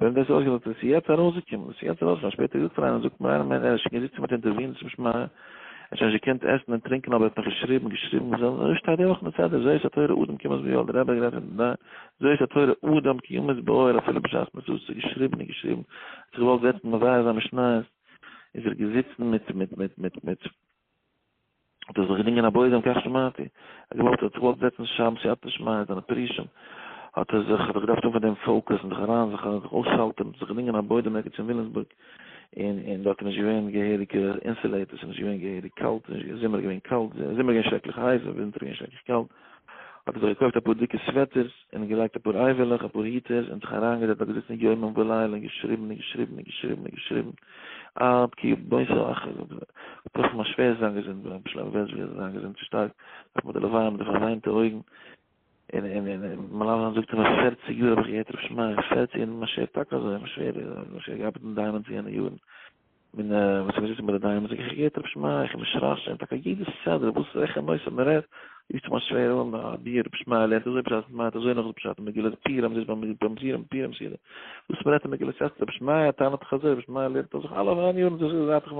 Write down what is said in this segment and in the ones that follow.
ווען דאס איז אויסגעזאגט וואס איז יעצט ארויסגעקומען וואס איז יעצט ארויסגעקומען שפעטער געזאגט פאר איינעם זאגט מיר איינער מיין ער איז שוין געזיצן מיט אינטערווינס צום שמע ער האט שוין נישט געקענט עסן און טרינקען אבער ער האט נאך געשריבן געשריבן אזוי שטייט די וואך אין די סדר זאת התורה אדם כיומת ביואל דער רבי האט גערעדט פון די זאת התורה אדם כיומת ביואל אפילו בשעת מצות צו געשריבן און געשריבן האט זיך געוואלט זעצן מברר זיין משניות איז ער געזיצן מיט מיט מיט מיט מיט האט ער זיך געדינגען א בויזעם כך שמעתי, ער האט געוואלט ער האט זיך געוואלט זעצן שם שיטת שמיא זיינע פרישים, האט ער זיך ער האט געדארפט האבן פון דעם פאוקעס און זיך אריין זיך אריין זיך אויסשאלטערן, האט זיך געדינגען א בוידעם ערגעץ אין וויליאמסבורג, און און דארט איז נישט געווען געהעריגע אינסעלעיטערס, ס'איז נישט געווען געהעריג קאלט, זומער איז געווען קאלט, זומער איז געווען שרעקליך הייס און ווינטער איז געווען שרעקליך קאלט, האט ער זיך געקויפט אפאר דיקע סוועטערס, און געלייגט אפאר אייוועלעך, אפאר היטערס, און זיך אריינגעזעצט דארט געזיצן יומם ולילה און געשריבן און געשריבן און געשריבן און געשריבן עד כי בס ה אח ל. פלוצלינג מיין שווער איז זיין געזונט געווארן פלא וראה זוועיר איז זיין געזונט שטארק נאך מיט די לוויה מיט די פארוויינטע אויגן און און און און מלמד זיין זאגט אים פערציג יאר האב איך געהערט רב שמעי' פערציג און מיין שווער טאקע אזוי מיין שווער האט געארבעט אין דיימאנדס יענע יארן. מן וואס איך זיץ מיט די דייען זאג איך געהערט רב שמעי' איך מיש רייס שוין טאקע יעדע סדר וואס וועלכע נושא מען רעדט איז צו מיין שווער אן א ביער רב שמעי' לערנט אזוי פשט און מיינט אזוי נאך די פשט מגילת פירם זיס ביים ביים סירם פירם סירם וואס מען רעדט אין מגילת אסתר רב שמעי' טענה'ט דאך אזוי רב שמעי' לערנט אויף זיך אלע אויף איין יאר און דאס האט זיך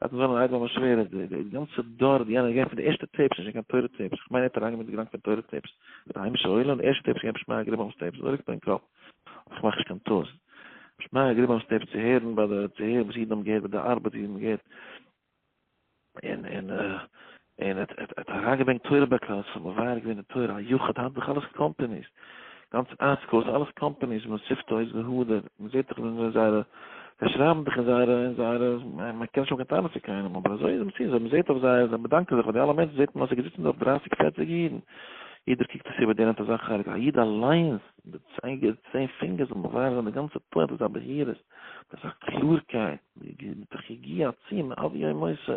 האט מען זיין אן איידעלע מיין שווער די גאנצע דור די יענער געפענט די ערשטע טעיפס נישט קיין תורה טעיפס איך מיין ער האט אריינגעמיט די געדאנק פון תורה טעיפס מיט א היימישע עולם די ערשטע טעיפס איז געווען רב שמעי' געבן אויס טעיפס אזוי ליגט מיר אין קאפ. איך מאך נישט קיין טעות. שמעיה איז געבליבן אנשטעב צו הערן ביי די צו הערן וואס אידן האבן געהערט ביי די ארבעט ווי מען געהערט און און און ער האט ער האט אריינגעברענגט תורה ביי קלאס עס האט מבאר געווען די תורה א יחוד האט דאך אלעס קאמפעניס גאנץ אייסקאוס אלעס קאמפעניס מען שיפט אויס ווי האדער מען זעט דאך ווי מען זייערע זיי שרייבן דאך אין זייערע אין זייערע מען קען נישט האבן קיין טענות צו קיינעם אבער אזוי איז מציאות ווען מען זעט אויף זיי זיי באדאנקען זיך פאר די אלע מענטשן זעט מען אז עס זענען געזיצן דארט דרייסיג פערציג אידן יעדער קוקט אויס איבער דער נעמט אזא חלק א איד אליינס די צייגער צען פינגערס זאל מבאר זיין די גאנצע פוינט מיט א בהירות, מיט א קלארקייט, מיט א יגיעה עצומה עד יום מותו.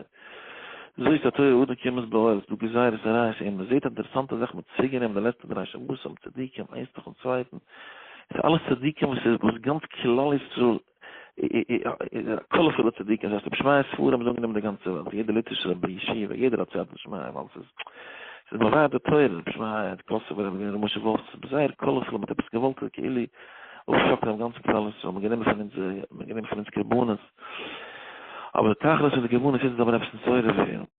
זאגט א תורה אדם כמת באוהל, ס'דא גזירות און רייס און מ'זעט אינטערעסאנטע זאכן, מ'האט צוריקגענומען די לעצטע דריי שבתים, צדיקים איינס נאכן צווייטן, עס איז אלעס צדיקים וואס איז וואס גאנץ כלל ישראל קאלערפולע צדיקים, זייער ס'האט שמייע ספרים איז אנגענומען די גאנצע וועלט, יעדע ליטווישע רבי ישיבה, יעדער האט סייעתא דשמיא ווייל ס'איז ס'איז באווארט די תורה, רבי שמעיה, די קאסובער רבי און ר' משה וואלף, ס'איז זייער קאלערפולע, מ'האט עפעס געוואלט כאילו אויפשאקלען דעם גאנצן כלל ישראל, מ'האט גענומען פון אונז, מ'האט גענומען פון אונז קרבנות, אבער די תכלית פון די קרבנות איז מ'זאל ווען עפעס נתעורר ווערן.